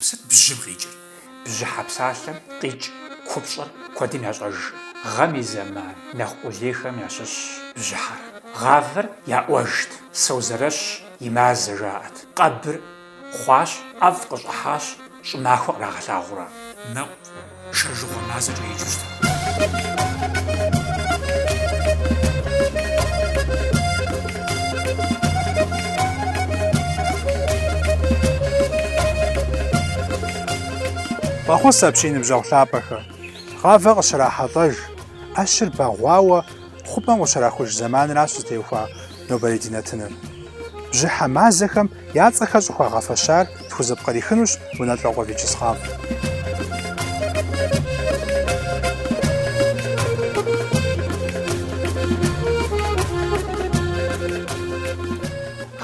Сыт бжьым къикӏыр? Бжьыхьэ псалъэм къикӏ купщӏэр куэдым ящӏэж. Гъэм и зэман нэхъ къулейхэм ящыщщ бжьыхьэр. Гъавэр яӏуэжт, Созэрэщ и мазэ жаӏэт. Къэбыр хъуащ, ӏэфӏ къыщӏыхьащ, щӏымахуэ кърагъэлъагъуэр. Мэлу Шэжыгъуэ мазэкӏэ еджэхэт. Фӏэхъус апщий ныбжьэгъу лъапӏэхэ! Гъавэ къыщрахьэлӏэж, ӏэщыр бэгъуауэ хъупӏэм къыщрахуж зэманращ зытеухуа нобэрей ди нэтыныр. Бжьыхьэ мазэхэм Я цӏэхэр щӏыхуагъэфэщар тхузэпкърихынущ Унэлӏокъуэ Вячеслав.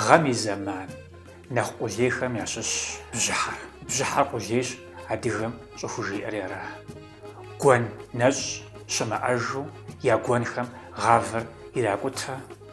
Гъэм и зэман нэхъ къулейхэм ящыщщ бжьыхьэр. Бжьыхьэр къулейщ адыгэм щӏыжиӏэри аращ. Гуэн нэщӏ щымыӏэжу я гуэнхэм гъавэр иракӏутэ.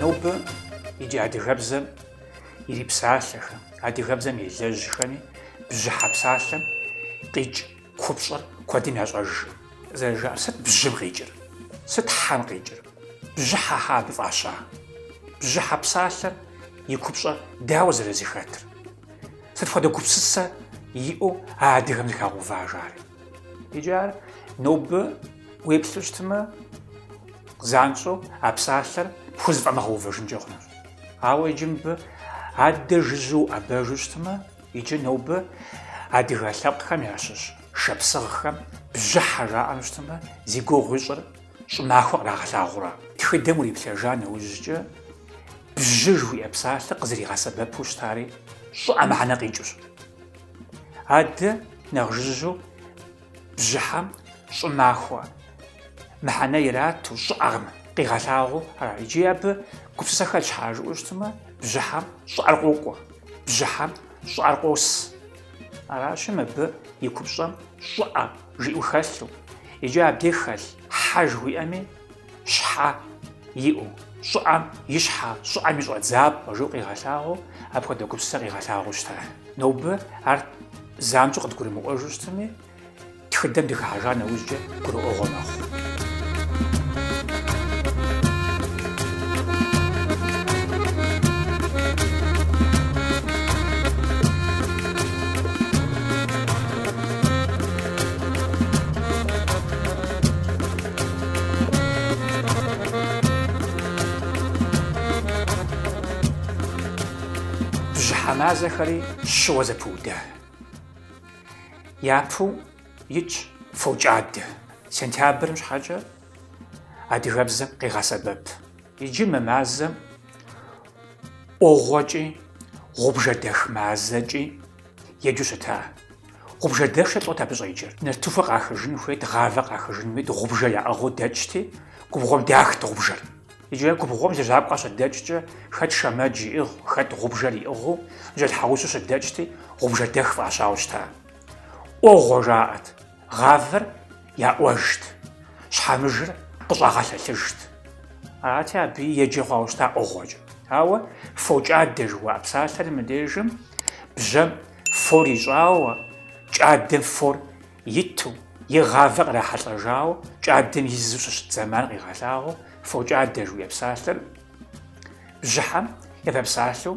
Нобэ икӏи адыгэбзэм ирипсалъэхэм, адыгэбзэм елэжьхэми бжьыхьэ псалъэм къикӏ купщӏэр куэдым ящӏэжкъым. Зэрыжаӏэр сыт бжьым къикӏыр? Сыт хьэм къикӏыр? Бжьыхьэ щхьэ абы фӏаща? Бжьыхьэ псалъэм и купщӏэр дауэ зэрызыхэтыр? Сыт хуэдэ гупсысэ иӏэу а адыгэм зэхагъэува ар? Иджы ар нобэ уеплъу щытмэ, занщӏэу а псалъэр пхузэфӏэмыгъэувэжынкӏэ хъунущ. Ауэ иджы мыбы адэ жыжьэу уӏэбэжу щытмэ, иджы нобэ адыгэ лъэпкъхэм ящыщ шапсыгъхэм бжьыхьэ жаӏэну щытмэ, зи гугъу ищӏыр щӏымахуэ кърагъэлъагъуэращ. Тхыдэм уриплъэжа нэужькӏэ бжьы жыхуиӏэ псалъэр къызэригъэсэбэпу щытари щӏыӏэ мыхьэнэ къикӏыущ. Адэ нэхъ жыжьэу бжьыхьэм щӏымахуэ мыхьэнэ ирату щӏыӏэм къигъэлъагъуэу арат. Иджы абы гупсысэ хэлъщ щхьа жыпӏэу щытмэ, бжьыхьэм щӏыӏэр къокӏуэ, бжьыхьэм щӏыӏэр къос. Аращи, мыбы и купщӏэм щӏыӏэ жиӏэу хэлъу, иджы абдеж хэлъ хьэ жыхуиӏэми, щхьэ иӏэу, щӏыӏэм и щхьэ, щӏыӏэм и щӏэдзапӏэ жиӏэу къигъэлъагъуэу, апхуэдэ гупсысэ къигъэлъагъуэу щытащ. Нобэ ар занщӏэу къыдгурымыӏуэжу щытми, тхыдэм дыхыхьэжа нэужькӏэ гурыӏуэгъуэ мэхъу. Бжьыхьэ мазэхэри щыуэ зэпыуда. Япэу итщ фокӏадэ. Сентябрым щхьэкӏэ адыгэбзэм къигъэсэбэп. Иджы мы мазэм ӏуэгъуэкӏи, гъубжэдэх мазэкӏи Еджэу щыта. Гъубжэдэх-щэ лӏот абы щӏеджэр. Нартыхуэ къахыжын хуейт, гъавэ къахыжын хуейт, гъубжэ яӏыгъыу дэкӏти, губгъуэм дахт гъубжэр. Иджы губгъуэм лэжьакӏуэ къыщыдэкӏкӏэ, хэт шэмэдж иӏыгъ, хэт гъубжэр иӏыгъыу, бжьэлъхьэгъусэу щыдэкӏти, гъубжэдэх фӏащауэ щыта. ӏуэгъуэ жаӏэт. Гъавэр яӏуэжт, щхьэмыжыр къыщӏагъэлъэлъыжт. Арати, абы еджэ хъуауэ щыта ӏуэгъуэкӏэ. Ауэ фокӏадэ жыхуаӏэ псалъэр мыбдежым бжьэм фор ищӏауэ, кӏадэм фор иту, е гъавэр кърахьэлӏэжауэ, кӏадэм изу щыщыт зэман къигъэлъагъуэу фокӏадэ жыхуиӏэ псалъэр бжьыхьэм япэ псалъэу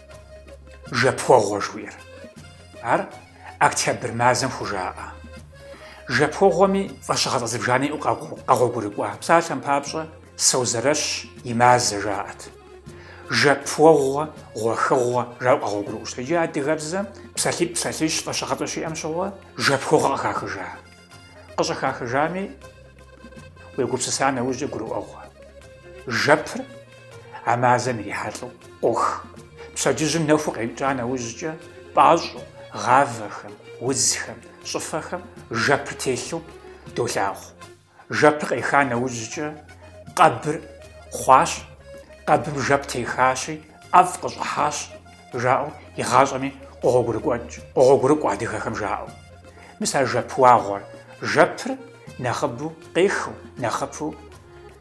Жэпуэгъуэ жыхуиӏэр. Ар октябрь мазэм хужаӏэ. Жэпуэгъуэми фӏэщыгъэцӏэ зыбжанэ иӏэу къэгъуэгурыкӏуа. Псалъэм папщӏэ Созэрэщ и мазэ жаӏэт. Жэпуэгъуэ, гъуэхыгъуэ жаӏэу къэгъуэгурыкӏуэу щыта. Иджы адыгэбзэм псалъитӏ, псалъищ фӏэщыгъэцӏэ щиӏэм щыгъуэ жэпуэгъуэ къыхахыжа. Къыщӏыхахыжами, уегупсыса нэужькӏэ гурыӏуэгъуэ. Жэпыр. А мазэм ирихьэлӏэу къох. Пщэдджыжьым нэху къекӏа нэужькӏэ, пӏащӏэу, гъавэхэм, удзхэм, щӏыфэхэм жэпыр телъу долъагъу. Жэпыр къеха нэужькӏэ, къэбыр хъуащ, къэбым жэп техащи, ӏэфӏ къыщӏыхьащ, жаӏэу игъащӏэми къогъуэгурыкӏуэкӏ, къогъуэгурыкӏуэ адыгэхэм жаӏэу. Мис а жэпуэгъуэр, жэпыр нэхъыбэу къехыу, нэхъыбэу.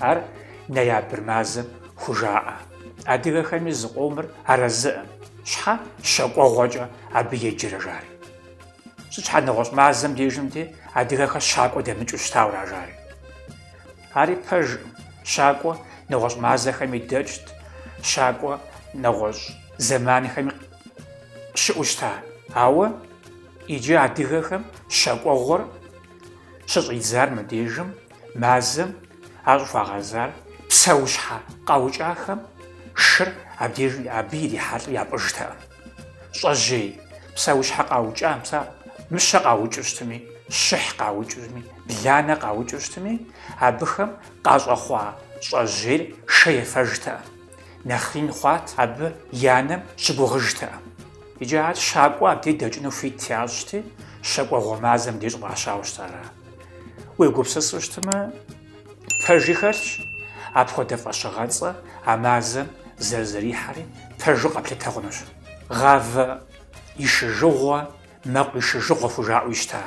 Ар ноябрь мазэм хужаӏэ. Адыгэхэми зы къомыр арэзыӏым. Щхьэ щэкӏуэгъуэкӏэ абы еджэрэ жари? Сыт щхьэ нэгъуэщӏ мазэм дежымти, адыгэхэр щакӏуэ дэмыкӏыу щытауэра жари? Ари пэжкъым. Щакӏуэ нэгъуэщӏ мазэхэми дэкӏт, щакӏуэ нэгъуэщӏ зэманхэми щыӏэу щыта. Ауэ иджы адыгэхэм щэкӏуэгъуэр щыщӏидзар мыбдежым Мазэм ар щӏыхуагъэзар псэущхьэ къаукӏахэм шыр абдеж абы ирихьэлӏэу япӏыжтэкъым. Щӏэжьей псэущхьэ къаукӏам, пса, мыщэ къаукӏыу щытми, щыхь къаукӏыжми, бланэ къаукӏыу щытми, абыхэм къащӏэхъуа щӏэжьейр шэ ефэжтэкъым, нэхъ ин хъуат, абы и анэм щыгугъыжтэкъым. Иджы ар щакӏуэ абдеж дэкӏыну хуит ящӏти, щэкӏуэгъуэ мазэм деж щӏыфӏащауэ щытар ара Уегупсысу щытымэ, пэжи хэлъщ, апхуэдэ фӏэщыгъэцӏэ а мазэм зэрызэрихьэри пэжу къэплъытэ хъунущ. Гъавэ ишыжыгъуэ, мэкъу ишыжыгъуэ хужаӏэуи щыта.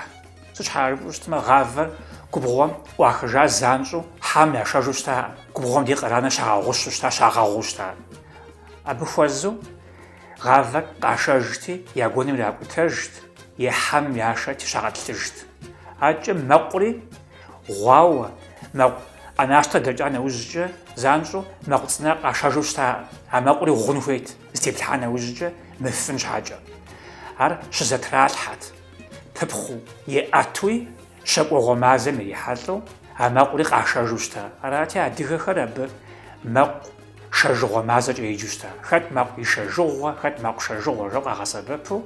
Сыт щхьэра жыпӏэу щытымэ, гъавэр губгъуэм ӏуахыжа занщӏэу хьэм яшэжу щытаӏым, губгъуэм дей къранэрэ щагъэгъущу щыта, щагъэгъуу щыта. Абы хуэзэу Гъавэр къашэжти, я гуэным иракӏутэжт, е хьэм яшэти щагъэтӏылъыжт. Акӏэ мэкъури гъуауэ, мэкъу ӏэнащтэр дэкӏа нэужькӏэ, занщӏэу мэкъу цӏынэр къашэжу щытаӏым, а мэкъури гъун хуейт, зэтеплъхьа нэужькӏэ мыфын щхьэкӏэ. Ар щызэтралъхьэт, пыпхъуэу, е ӏэтэуи, щэкӏуэгъуэ мазэм ирихьэлӏэу, а мэкъури къашэжу щыта. Арати, адыгэхэр абы мэкъу Шэжыгъуэ мазэкӏэ еджэу щыта. Хэт мэкъу ишэжыгъуэ, хэт мэкъу шэжыгъуэ жаӏэу къагъэсэбэпу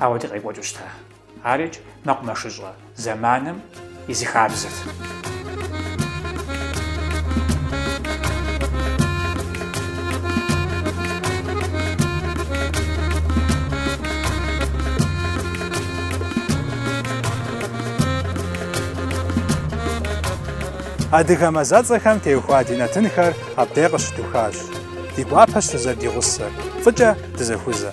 ауэ ди къекӏуэкӏыу щыта. Арикӏ, мэкъумэшыщӏэ зэманым и зы хабзэт. Адыгэ мазэцӏэхэм теухуа ди нэтынхэр Абдей къыщыдухащ. Ди гуапэщ фызэрыдигъусэр. Фӏыкӏэ дызэхузэ.